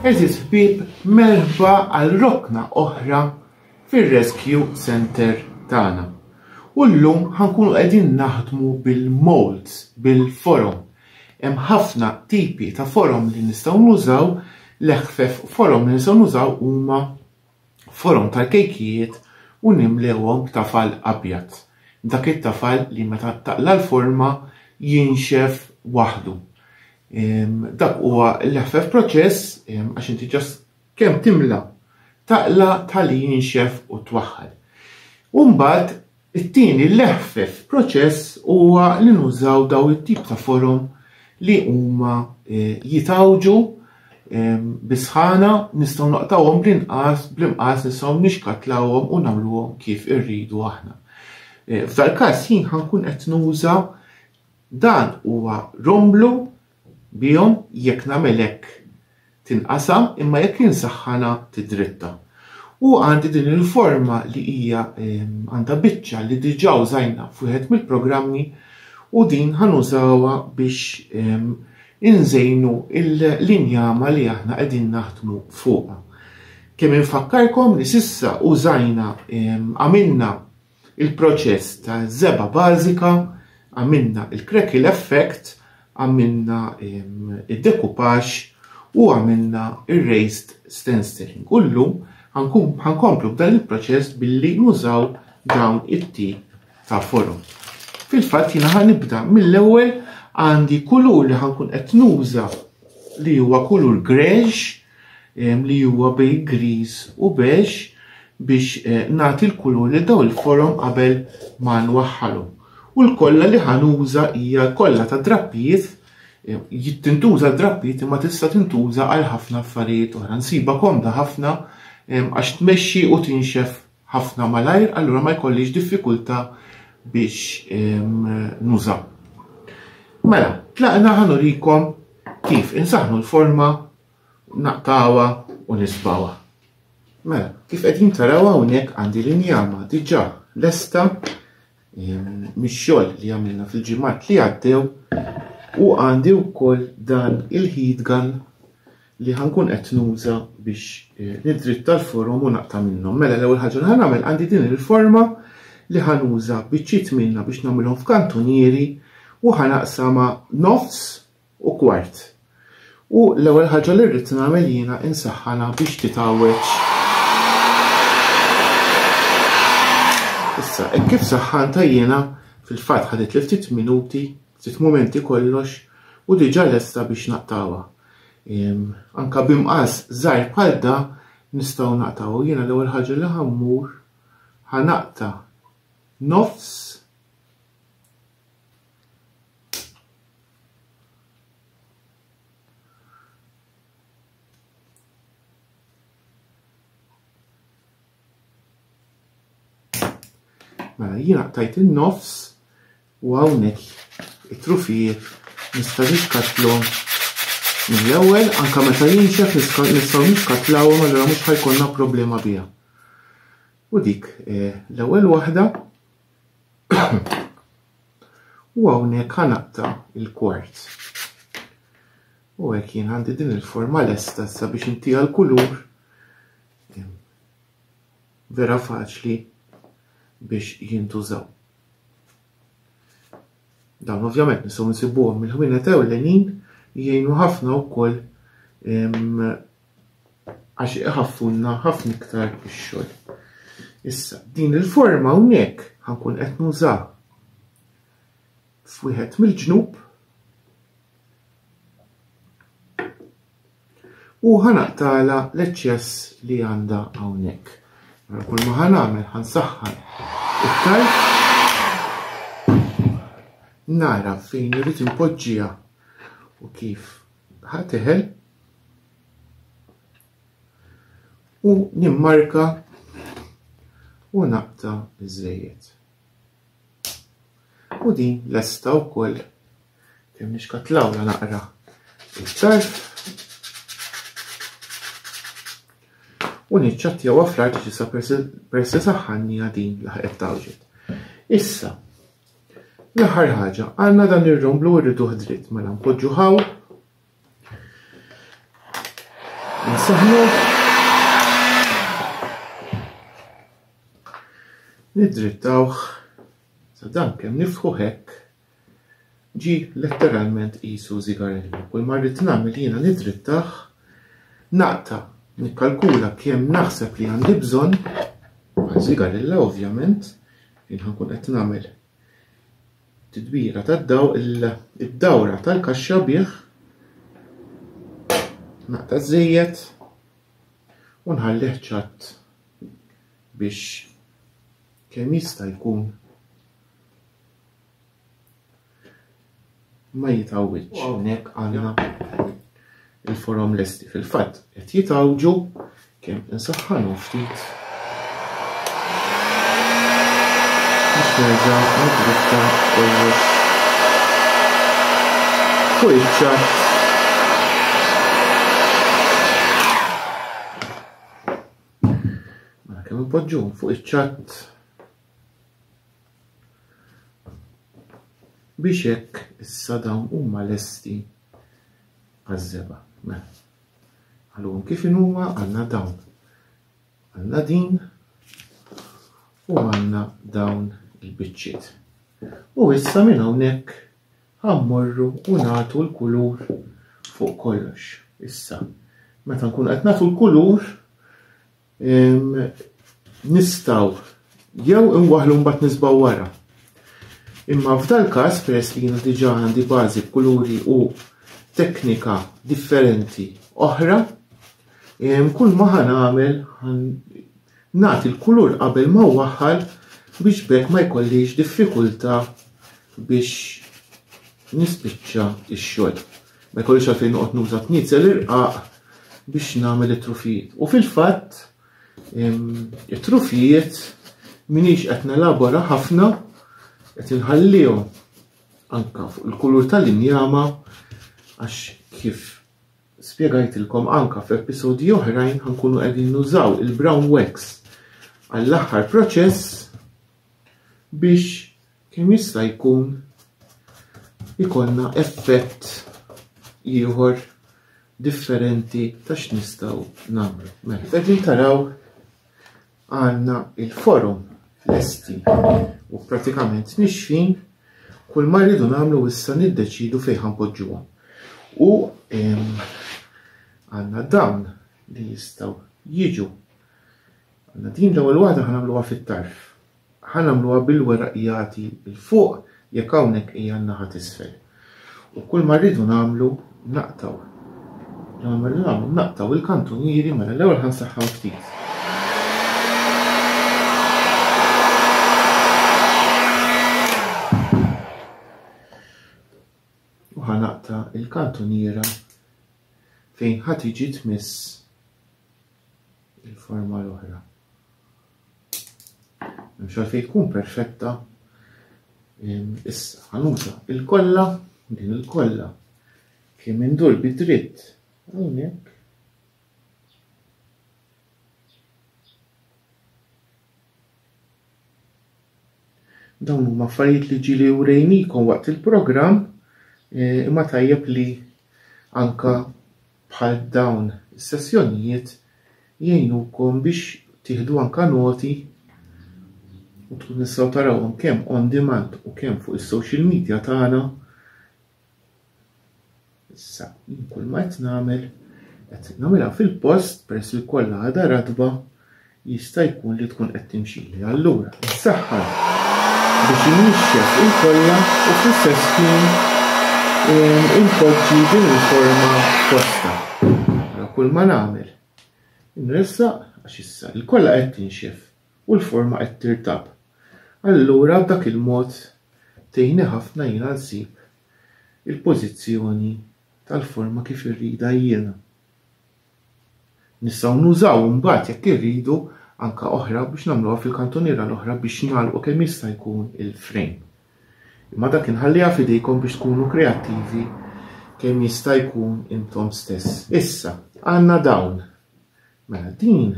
Eżis ħbib merħba għal rokna oħra fir-Rescue Center tagħna. U llum ħankunu qegħdin naħdmu bil-molds, bil-forom. Hemm ħafna tipi ta' forom li nistgħu nużaw, l-eħfef forom li nistgħu nużaw huma forom tal-kejkijiet u nimlewhom b'tafal abjad, dak it-tafal li meta taqla' l-forma jinxef waħdu. Dak huwa l-eħfef proċess għax inti ġast kemm timla' taqla' tħalli jinxef u twaħħal. U mbagħad It-tieni l-eħfef proċess huwa li nużaw daw it-tip ta' forom li huma eh, jitawġu ehm, bisħana nistgħu naqtawhom bl-inqas bl-inqas nistgħu nixkatlawhom u nagħmluhom kif irridu aħna. Eh, f'dal-każ jien ħankun qed nuża dan huwa romblu bihom, jekk nagħmel hekk tinqasam, imma jekk insaħħanha tidritta. U għandi din il-forma li hija għandha biċċa li diġà użajna f'wieħed mill-programmi u din ħanużawha biex inżejnu l-injama li aħna qegħdin naħdmu fuqha. Kemm infakkarkom li sissa użajna għamilna il-proċess ta' żebgħa bażika, għamilna il-crackle effect, għamilna id-dekupax u għamilna il-raised stenciling. U llum ħankomplu b'dan il-proċess billi nużaw dawn it-tip ta' forum. Fil-fatt jina ħanibda mill-ewwel għandi kulur li ħankun qed nuża li huwa kulur gresh li huwa bejn griż u beige biex nagħti l-kulur lil dawn il-forom qabel ma nwaħħalhom. U l-kolla li ħa nuża hija kolla ta' drappijiet tintuża drappijiet imma tista' tintuża għal ħafna affarijiet oħra. Nsiba komda ħafna għax tmexxi u tinxef ħafna malajr allura ma jkollix diffikultà biex nuża. Mela, tlaqna ħa nurikom kif insaħnu l-forma, naqtawha u nisbawha. Mela, kif qegħdin taraw hawnhekk għandi l-injama diġà lesta mix-xogħol li għamilna fil-ġimgħat li għaddew u għandi wkoll dan il-heat gun li ħankun qed nuża biex eh, nidritta l-forom u naqta' minnhom. Mela l-ewwel ħaġa li ħanagħmel għandi din il-forma li ħanuża biċċiet minna biex nagħmilhom f'kantunieri u ħanaqsama nofs u kwart. U l-ewwel ħaġa li rrid nagħmel jiena insaħħanha biex titgħawweġ. Issa, hekk kif saħħantha jiena, fil-fatt ħaditli ftit minuti, ftit mumenti kollox, u diġà lesta biex naqtgħuha. Ehm, anka bi mqas żgħir bħal da nistgħu naqtgħu. Jiena l-ewwel ħaġa li ħammur ħanaqta' nofs Mela, jiena qtajt in-nofs u hawnhekk it-trufijiet nista' nixkatlhom mill-ewwel anke meta jinxef nistgħu nixkatlawhom allura mhux ħajkonna problema biha. U dik eh, l-ewwel waħda U hawnhekk ħanaqta' il-kwart. U hekk jien għandi din il-forma lesta issa biex intiha l-kulur vera faċli biex jintużaw. Dawn ovvjament nistgħu nsibuhom mill-ħwienet ewlenin jgħinu ħafna wkoll għax iħaffunna ħafna iktar ix-xogħol. Issa, din il-forma hawnhekk ħankun qed nuża f'wieħed mill-ġnub u ħanaqtala l-eċċess li għandha hawnhekk. Mela kull ma ħanagħmel ħansaħħan iktar nara fejn irid inpoġġiha u kif ħateħel U nimmarka u naqta iż-żejjed. U din lesta wkoll kemm nixkatlawla naqra iktar. U niċċattjawha fl-art ġisa persi saħħannija din laħqet tawġet. Issa, l-aħħar ħaġa, għandna dan ir-romblu rriduh dritt mela npoġġu ħaw Nsaħnu. Nidrittawh sa dan kemm niftħu hekk ġi letteralment qisu zigarellu. Kull ma rrid nagħmel jiena nidrittah naqta nikkalkula kemm naħseb li għandi bżonn ma' zigarella ovvjament jien ħankun qed nagħmel Titbira tad-dawl id-dawra tal-kaxxa bih naqta' żejjed u nħallih ċatt biex kemm jista' jkun ma jitgħawwidx. Hawnhekk għandna Il-forom lesti fil-fatt qed jitgħawġu kemm insaħħanhom ftit biex nerġa' nidrifta kollox fuq iċ-ċatt poġġu fuq iċ-ċatt biex hekk issa dawn huma lesti għaż-żebgħa. Mela. Għalhom kif inhuma għandna dawn. Għandna din u għandna dawn il-biċċiet. U issa minn hawnhekk ħammorru u nagħtu l-kulur fuq kollox. Issa, meta nkun qed nagħtu l-kulur, Nistaw jew inwaħlu mbagħad nisbaw wara. Imma f'dal każ peress li jiena diġà għandi bażi b'kuluri u teknika differenti oħra, kull ma ħan għamel nagħti l-kulur qabel ma waħħal biex bekk ma jkollix diffikultà biex nispiċċa x-xogħol. Ma jkollix għalfejn noqgħod nuża tniezel irqaq biex nagħmel it-trufijiet. U fil-fatt, it-trufijiet minix qed nelabora ħafna qed inħallihom anka fuq il-kulur tal-injama għax kif spjegajtilkom anka f'episodji oħrajn ħankunu qegħdin nużaw il-brown wax għall-aħħar proċess biex kemm jista' jkun ikollna effett ieħor differenti ta' x'nistgħu nagħmlu. Mela, qegħdin taraw għandna il-forum lesti u pratikament nixfin kull ma rridu nagħmlu issa niddeċidu fejn ħanpoġġuhom. U għandna dawn li jistgħu jiġu. Għandna din l-ewwel waħda ħanagħmluha fit-tarf. Ħa nagħmluha bil-weraq jati 'l fuq jekk hawnhekk hija n-naħa t'isfel. U kull ma rridu nagħmlu naqtgħu. Kull ma rridu nagħmlu naqtgħu il-kantunieri mela l-ewwel ħa nsaħħaw ftit. U ħa naqta' il-kantuniera fejn ħa tiġi tmiss il-forma l-oħra. Mhux għalfejn tkun perfetta. Issa ħanuża il-kollha, din il-kollha kemm indur bi dritt hawnhekk. Dawn huma affarijiet li ġili urejnikom waqt il-programm eh, imma tajjeb li anka Bħal dawn is-sessjonijiet jgħinukom biex tieħdu anke noti u tkun nistgħu tarawhom kemm on demand u kemm fuq is-social media tagħna. Issa jien kulma qed nagħmel qed nagħmilha fil-post peress li kollha għadha ratba Jista' jkun li tkun qed timxili. Allura, insaħħan biex innixxef il-kolla u fl-istess ħin inpoġġi din il-forma posta. Ara kull ma nagħmel. Inressaq għax issa il-kolla qed tinxef u l-forma qed tirtab. Allura b'dak il-mod tgħinni ħafna jiena nsib il-pożizzjoni tal-forma kif irridha jiena. Nistgħu nużaw imbagħad jekk irridu anke oħra biex nagħmluha fil-kantuniera l-oħra biex nagħlqu kemm jista' jkun il-frame. Imma dak inħalliha f'idejkom biex tkunu kreattivi kemm jista' jkun intom stess. Issa, għandna dawn. Mela din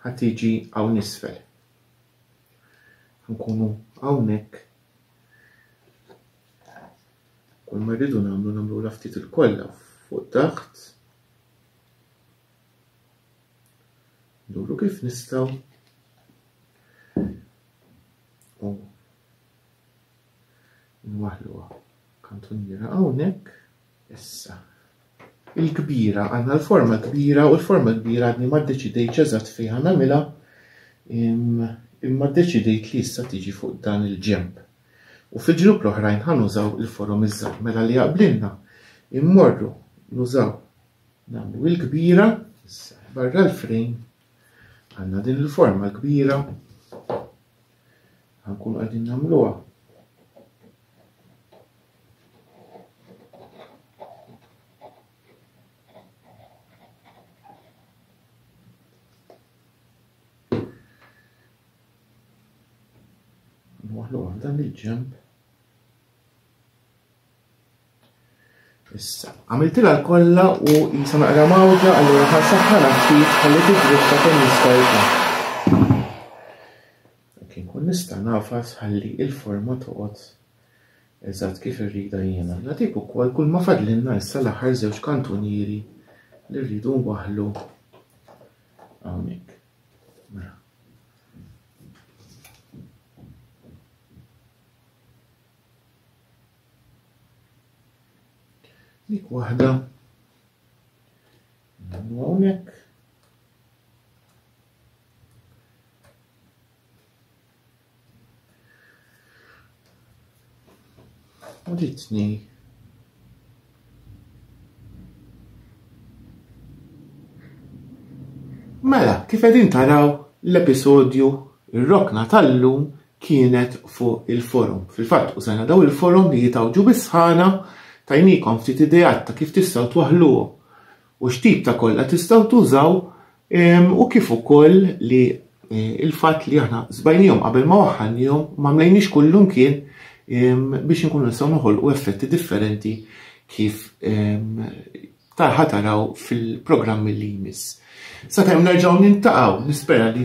ħa tiġi hawn isfel. Nkunu hawnhekk Kull ma rridu nagħmlu nagħmluha ftit il-kollha fuq taħt. Nduru kif nistgħu. U nwaħluha kantuniera hawnhekk. Issa. Il-kbira, għandna l-forma kbira u l-forma kbira għadni ma ddeċidejtx eżatt fejn nagħmilha imma ddeċidejt li issa tiġi fuq dan il-ġenb. U fil-ġnub l-oħrajn ħa nużaw il-forom iż-żgħar mela li jaqblilna immorru nużaw nagħmlu il-kbira issa barra l-frejn għandna din il-forma l-kbira ħankun qegħdin nagħmluha dan il-ġemp. Issa, għamiltila l-kolla u jisa naqra mawġa għallura ħal saħħa naħfif ħalli tiġrista kemm jista' jkun. Kien kun nista' nafas ħalli il-forma toqgħod Eżatt kif irridha jiena. Nagħtik ukoll kulma fadlilna issa l-aħħar żewġ kantunieri li rridu nwaħħlu hawnhekk. Mela. Dik waħda. Nagħmlu hawnhekk. Uritni Mela, kif qegħdin taraw l-episodju ir-rokna tal-lum kienet fuq il-forum. Fil-fatt użajna daw il-forum li jitawġu bis-sħana tajnikom ftit idejat ta' kif tistgħu twaħluhom u x'tip ta' kollha tistgħu tużaw u kif ukoll li eh, il-fatt li aħna żbajnihom qabel ma waħħalnihom ma mlejniex kullum kien biex inkunu nistgħu noħolqu effetti differenti kif tarħa taraw fil-programmi li jmiss. Sakemm nerġgħu nintaqgħu, nispera li